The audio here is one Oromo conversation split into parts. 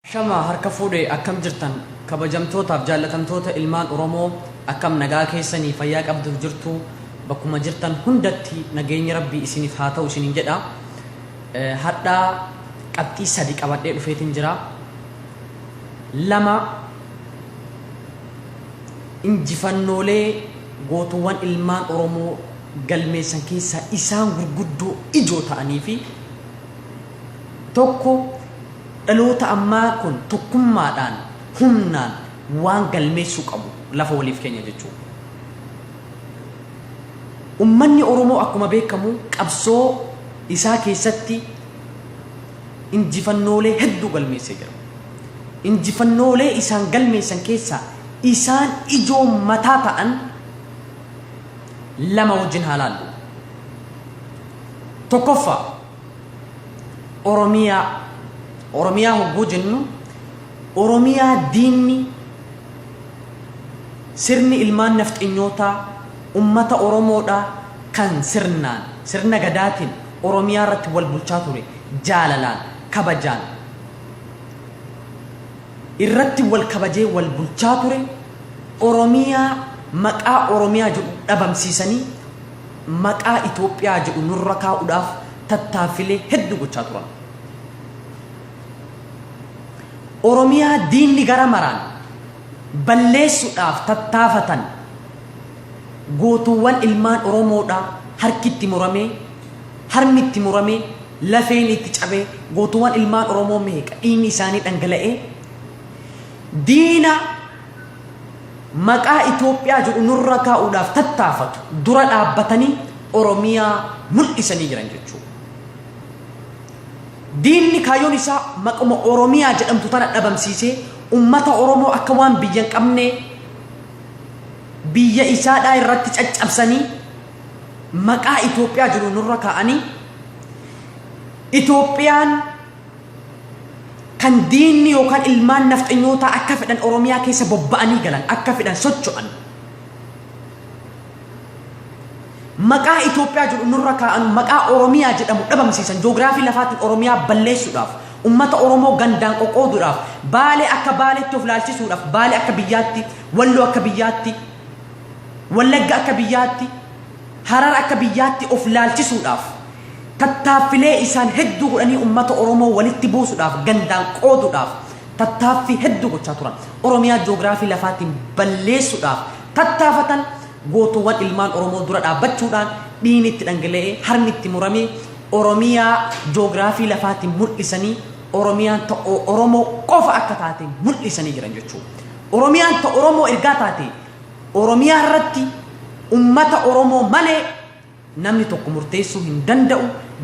Ashamaa harka fuudhe akkam jirtan kabajamtootaaf jaallatamtoota ilmaan oromoo akkam nagaa keessanii fayyaa qabduuf jirtu bakkuma jirtan hundatti nageenyi rabbii isiniif haa ta'u isiniin jedha hadhaa qabxii sadi qabadhee dhufeetiin jira lama injifannoolee gootuwwan ilmaan oromoo galmeessan keessaa isaan gurguddoo ijoo ta'anii fi Tokko, dhaloota ammaa kun tokkummaadhaan, humnaan waan galmeessuu qabu lafa waliif keenya jechuu dha. Ummanni Oromoo akkuma beekamu qabsoo isaa keessatti injifannoolee hedduu galmeessee jira. Injifannoolee isaan galmeessan keessaa isaan ijoo mataa ta'an lama wajjin haa laallu. Tokkoffaa. Oromiyaa Oromiyaa hogguu jennu Oromiyaa diinni sirni ilmaan nafxanyootaa ummata Oromoodhaa kan sirnaan sirna gadaatiin Oromiyaa irratti wal bulchaa ture jaalalaan kabajaan irratti wal kabajee wal bulchaa ture Oromiyaa maqaa Oromiyaa jedhu dhabamsiisanii maqaa Itoophiyaa jedhu nurra kaa'uudhaaf tattaaffilee hedduu gochaa turan. Oromiyaa diinni gara maraan balleessuudhaaf tattaafatan gootuuwwan ilmaan Oromoodhaa harki itti muramee, harmi itti muramee, lafeen itti cabee, gootuuwwan ilmaan Oromoo meeqa dhiigni isaanii dhangala'ee diina Maqaa Itoophiyaa jedhu nurra kaa'uudhaaf tattaafatu dura dhaabbatanii Oromiyaa mul'isanii jiran jechuudha. Diinni kaayyoon isaa maquma Oromiyaa jedhamtu tana dhabamsiisee ummata Oromoo akka waan biyya hin qabne biyya isaadhaa irratti caccabsanii maqaa Itoophiyaa jedhu nurra kaa'anii Itoophiyaan kan diinni yookaan ilmaan nafxanyootaa akka fedhan Oromiyaa keessa bobba'anii galan akka fedhan socho'an maqaa Itoophiyaa jedhu nurra kaa'an maqaa Oromiyaa jedhamu dhabamsiisan joogiraafii lafaatiin Oromiyaa balleessuudhaaf ummata Oromoo gandaan qoqqooduudhaaf baalee akka baaleetti of laalchisuudhaaf baalee akka biyyaatti walloo akka biyyaatti wallagga akka biyyaatti Harar akka biyyaatti of laalchisuudhaaf tattaaffilee isaan hedduu godhanii ummata Oromoo walitti buusudhaaf gandaan qooduudhaaf tattaaffii hedduu gochaa turan. Oromiyaa joogiraafii lafaatiin balleessuudhaaf tattaafatan gootoowwan ilmaan Oromoo dura dhaabbachuudhaan dhiigni itti dhangala'ee harmi itti muramee Oromiyaa joogiraafii lafaatiin mul'isanii Oromiyaan ta Oromoo qofa akka taate mul'isanii jiran jechuudha. Oromiyaan ta Oromoo ergaa taate Oromiyaa irratti ummata Oromoo malee namni tokko murteessuu hin danda'u,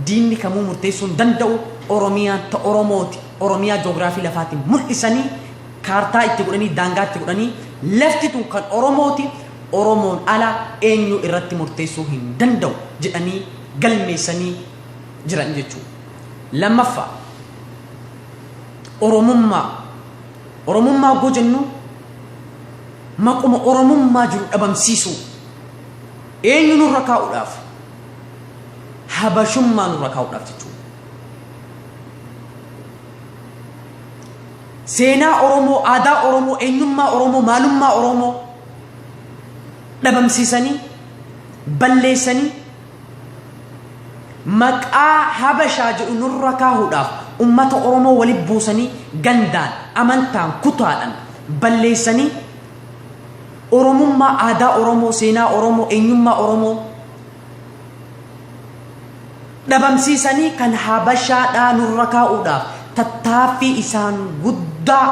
diinni kamuu murteessuu hin danda'u, Oromiyaan ta Oromooti, Oromiyaa joogiraafii lafaatiin mul'isanii, kaartaa itti godhanii, daangaa itti godhanii, lafti tun kan Oromooti, Oromoon ala eenyu irratti murteessuu hin danda'u jedhanii galmeessanii jiran jechuudha. Lammaffaa, Oromummaa Oromummaa oggoo jennu maquma Oromummaa jiru dhabamsiisuu eenyu nurra kaa'uudhaaf habashummaa nurra kaa'uudhaaf jechuudha. Seenaa Oromoo, aadaa Oromoo, eenyummaa Oromoo, maalummaa Oromoo dhabamsiisanii balleessanii Maqaa Habashaa jedhu nurra kaahuudhaaf ummata Oromoo wali buusanii gandaan, amantaan, kutaadhan balleessanii Oromummaa, aadaa Oromoo, seenaa Oromoo, eenyummaa Oromoo dhabamsiisanii kan Habashaadhaa nurra kaa'uudhaaf tattaaffii isaan guddaa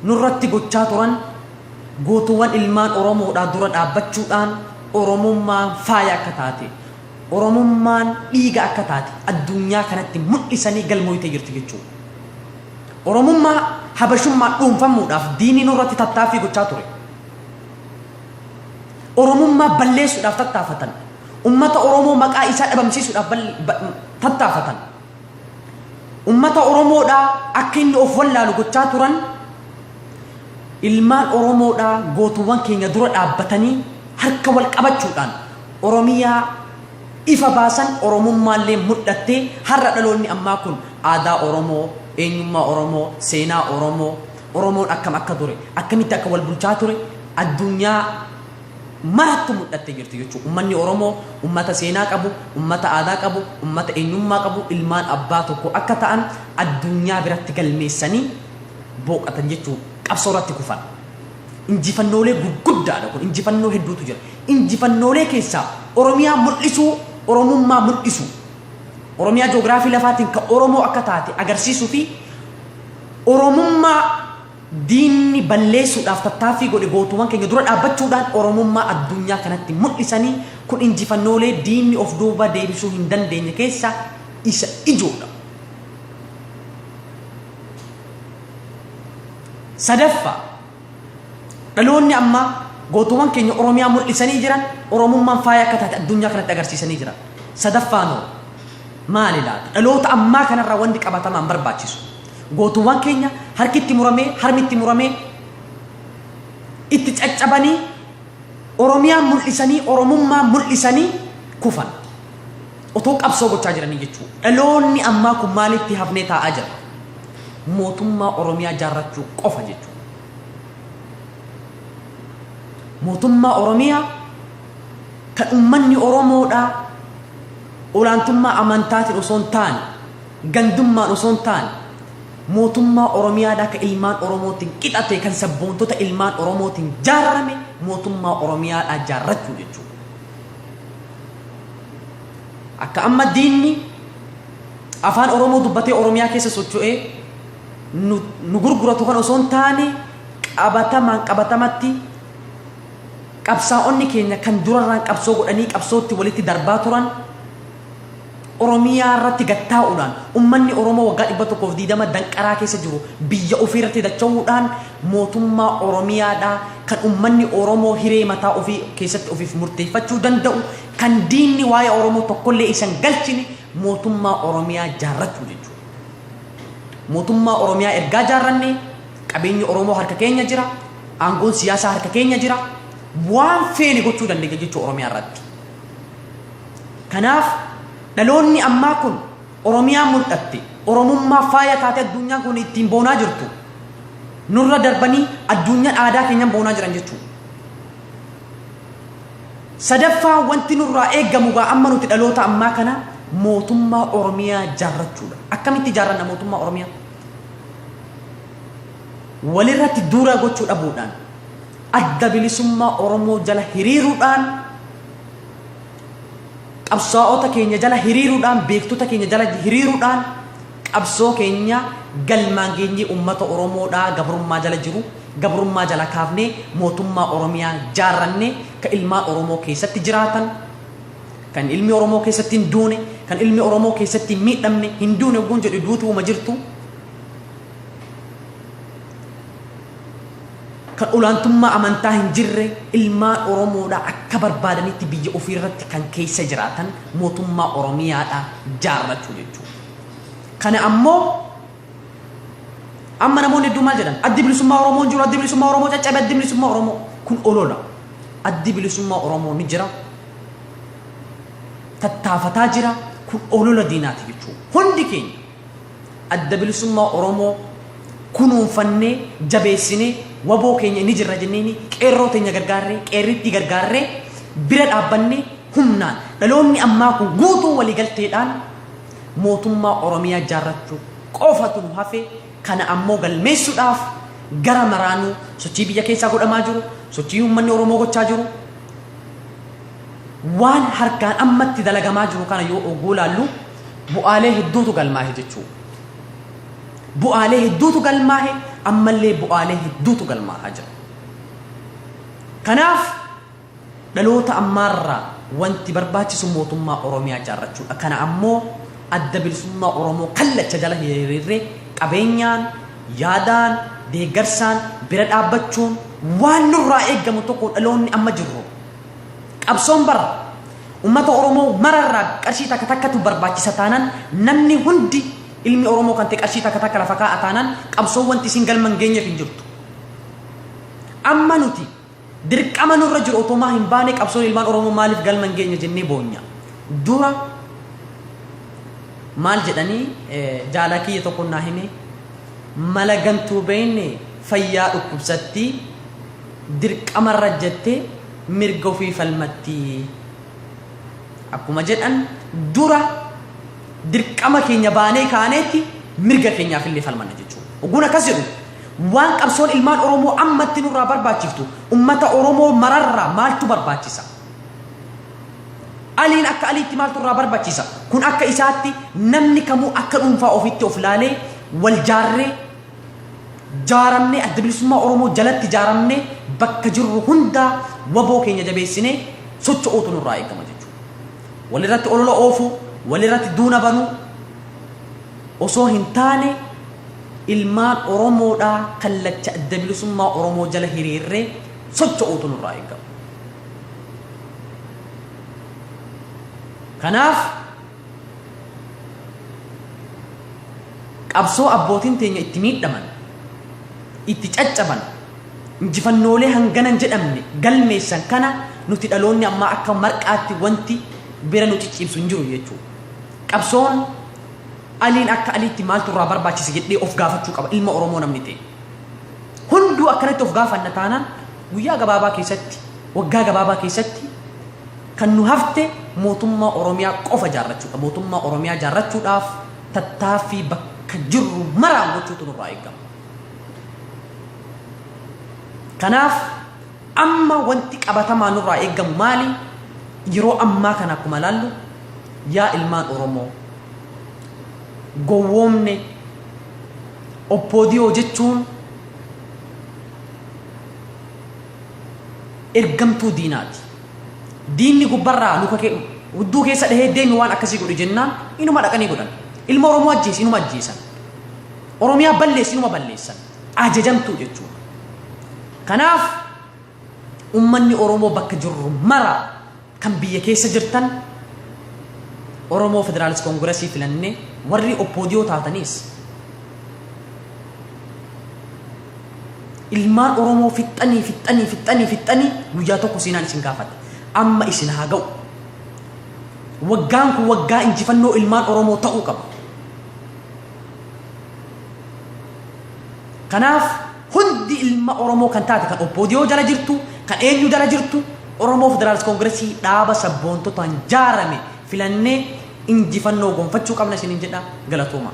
nurratti gochaa turan gootuwwan ilmaan Oromoodhaa dura dhaabbachuudhaan Oromummaan faaya akka taate, Oromummaan dhiiga akka taate addunyaa kanatti mul'isanii galmooytee jirti jechuudha. Oromummaa habashummaa dhuunfamuudhaaf diinii nurratti tattaaffii gochaa ture. Oromummaa balleessuudhaaf tattaafatan. Ummata Oromoo maqaa isaa dhabamsiisuudhaaf tattaafatan. Ummata Oromoodhaa akka inni of wallaalu gochaa turan ilmaan Oromoodhaa gootuwwan keenya dura dhaabbatanii harka wal qabachuudhaan Oromiyaa ifa baasan Oromummaallee mul'attee har'a dhaloonni ammaa kun aadaa Oromoo, eenyummaa Oromoo, seenaa Oromoo, Oromoon akkam akka ture, akkamitti akka wal bulchaa ture addunyaa marattu mul'attee jirti jechuudha. Ummanni Oromoo ummata seenaa qabu, ummata aadaa qabu, ummata eenyummaa qabu, ilmaan abbaa tokko akka ta'an addunyaa biratti galmeessanii booqatan jechuun qabsoo irratti kufan. Injifannoolee gurguddaadha kun injifannoo hedduutu jira. Injifannoolee keessaa Oromiyaa mul'isuu, Oromummaa mul'isuu. Oromiyaa joogiraafii lafaatiin kan Oromoo akka taate agarsiisuu fi Oromummaa Diinni balleessuudhaaf tattaaffii godhe gootoowwan keenya dura dhaabbachuudhaan Oromummaa addunyaa kanatti mul'isanii kun injifannoolee diinni of duuba deebisuu hin dandeenye keessaa isa ijoodha. Sadaffaa, dhaloonni ammaa gootoowwan keenya Oromiyaa mul'isanii jiran Oromummaan faaya akka taate addunyaa kanatti agarsiisanii jiran. Sadaffaan hoo maali laata? Dhaloota ammaa kanarraa wanti qabatamaan barbaachisu. Gootuwwan keenya harki itti muramee, harmi itti muramee, itti caccabanii, Oromiyaa mul'isanii, Oromummaa mul'isanii kufan. Otoo qabsoo gochaa jiranii jechuudha. Dhaloonni ammaa kun maalitti hafnee taa'aa jira? Mootummaa Oromiyaa jaarrachuu qofa jechuudha. Mootummaa Oromiyaa kan uummanni Oromoodhaa olaantummaa amantaatiin osoo hin taane Gandummaan osoo hin taane mootummaa Oromiyaadha ka ilmaan Oromootiin qixate kan sabboontota ilmaan Oromootiin jaarrame mootummaa Oromiyaadhaa jaarrachuu jechuudha. Akka amma diinni afaan Oromoo dubbatee Oromiyaa keessa socho'ee nu, nu gurguratu kan osoo hin taane qabatamaan qabatamatti qabsaa'onni keenya kan durarraan qabsoo godhanii qabsootti walitti darbaa turan Oromiyaa irratti gad taa'uudhaan ummanni Oromoo waggaa 120 danqaraa keessa jiru biyya ofii irratti dacha'uudhaan mootummaa Oromiyaadhaa kan ummanni Oromoo hiree mataa ofii keessatti ofiif murteeffachuu danda'u kan diinni waa'ee Oromoo tokkollee isa hin galchine mootummaa Oromiyaa jaarrachuu jechuudha. Mootummaa Oromiyaa ergaa jaarranne qabeenyi Oromoo harka keenya jira, aangoon siyaasaa harka keenya jira, waan feene gochuu dandeenya jechuu Oromiyaa irratti. Kanaaf dhaloonni ammaa kun Oromiyaa mul'atte, Oromummaa faaya taatee adduunyaan kun ittiin boonaa jirtu nurra darbanii adduunyaan aadaa keenyan boonaa jiran jechuudha. Sadaffaa wanti nurraa eegamu gaa amma nuti dhaloota ammaa kana mootummaa Oromiyaa jaarrachuudha. Akkamitti jaarranna mootummaa Oromiyaa? Walirratti duura gochuu dhabuudhaan Adda Bilisummaa Oromoo jala hiriiruudhaan, qabsaa'ota keenya jala hiriiruudhaan, beektota keenya jala hiriiruudhaan qabsoo keenya galmaan geenyee uummata Oromoo dhaa gabrummaa jala jiru gabrummaa jala kaafnee mootummaa Oromiyaa jaarrannee ka ilmaan Oromoo keessatti jiraatan, kan ilmi Oromoo keessatti hin duune, kan ilmi Oromoo keessatti hin miidhamne, hin duune ogguun jedhu duutuuma jirtu. kan olaantummaa amantaa hin jirre ilmaan Oromoodha akka barbaadanitti biyya ofii irratti kan keessa jiraatan mootummaa Oromiyaadha jaarrachuu jechuudha. Kana ammoo amma namoonni hedduu maal jedhan addi bilisummaa Oromoo hin jiru addi bilisummaa Oromoo caccabe addi bilisummaa Oromoo kun olola addi bilisummaa Oromoo ni jira tattaafataa jira kun olola diinaati jechuudha hundi keenya Adda Bilisummaa Oromoo kunuunfannee, jabeessinee, wbo keenya ni jirra jenneeni qeerroo teenya gargaarree, qeerrittii gargaarree, bira dhaabbannee humnaan dhaloonni ammaa kun guutuu walii galteedhaan mootummaa Oromiyaa ijaarrachuu qofatu nu hafe kana ammoo galmeessuudhaaf gara maraanuu sochii biyya keessaa godhamaa jiru, sochii uummanni Oromoo gochaa jiru, waan harkaan ammatti dalagamaa jiru kana yoo ogguu laallu Bu'aalee hedduutu galmaahe jechuu. Bu'aalee hedduutu galmaahe ammallee bu'aalee hedduutu galmaahaa jira. Kanaaf dhaloota ammaarraa wanti barbaachisu mootummaa Oromiyaa ijaarrachuudha. Kana ammoo adda bilisummaa Oromoo kallacha jala hiriirree qabeenyaan, yaadaan, deeggarsaan bira dhaabbachuun waan nurraa eegamu tokko dhaloonni amma jirru Qabsoon bara ummata Oromoo mara irraa qarshii takka takkatu barbaachisa taanaan namni hundi ilmi Oromoo kan ta'e qarshii takka takka lafa kaa'a taanaan qabsoon wanti isin galma hin geenyeef hin jirtu. Amma nuti dirqama nurra jiru otomaa hin baane qabsoon ilmaan Oromoo maaliif galma hin geenye jennee boonya. Dura maal jedhanii eh, jaalaa kiyya tokko naa hime mala gantuu beeyne fayyaa dhukkubsattii dirqamarra jettee mirga ofii falmatti. Akkuma jedhan dura dirqama keenya baanee kaaneetti mirga keenyaaf illee falmanna jechuudha. Ogguun akkas jedhu waan qabsoon ilmaan Oromoo ammatti nurraa barbaachiftu ummata Oromoo mararraa maaltu barbaachisa? Aliin akka aliitti maaltu irraa barbaachisa? Kun akka isaatti namni kamuu akka dhuunfaa ofitti of laalee wal jaarree jaaramnee adda bilisummaa Oromoo jalatti jaaramnee bakka jirru hundaa waboo keenya jabeessinee socho'uutu nurraa eegama jechuudha. Walirratti olola oofuu, walirratti duuna banuu osoo hin taane ilmaan Oromoodhaa kallacha adda bilisummaa Oromoo jala hiriirree socho'uutu nurraa eegama. Kanaaf Qabsoo abbootiin teenya itti miidhaman, itti caccaban, injifannoolee hangana hin jedhamne galmeessan kana nuti dhaloonni ammaa akka marqaatti wanti bira nu cicciibsu hin jiru jechuudha. Qabsoon Aliin akka Aliitti maaltu irraa barbaachise jedhee of gaafachuu qaba ilma Oromoo namni ta'e. Hunduu akkanatti of gaafanna taanaan guyyaa gabaabaa keessatti, waggaa gabaabaa keessatti Kan nu hafte mootummaa Oromiyaa qofa ijaarrachuudha. Mootummaa Oromiyaa ijaarrachuudhaaf tattaaffii bakka jirru maraan gochuutu nurraa eegama. Kanaaf amma wanti qabatamaa nurraa eegamu maali? Yeroo ammaa kana akkuma ilaallu yaa ilmaan Oromoo gowwoomne oppoodiyoo jechuun ergamtuu diinaati. Diinni gubbarraa luka kee hudduu keessa dhahee deemi waan akkasii godhi jennaan inuma dhaqanii godhan. Ilma Oromoo ajjeesi inuma ajjeesan. Oromiyaa balleessi inuma balleessan. Ajajamtuu jechuudha. Kanaaf ummanni Oromoo bakka jirru mara kan biyya keessa jirtan Oromoo Federaalist Koongirasii filannee warri oppoodiyoo taataniis Ilmaan Oromoo fixxanii fixxanii fixxanii fixxanii guyyaa tokko seenaan isin gaafata. Amma isin haa ga'u. Waggaan kun waggaa injifannoo ilmaan Oromoo ta'uu qaba. Kanaaf hundi ilma Oromoo kan taate kan Oppoodiyoo jala jirtu, kan eenyu jala jirtu, Oromoo Federaalist Koongiresii dhaaba sabboontotaan jaarame filannee injifannoo gonfachuu qabna isiniin jedha galatoomaa.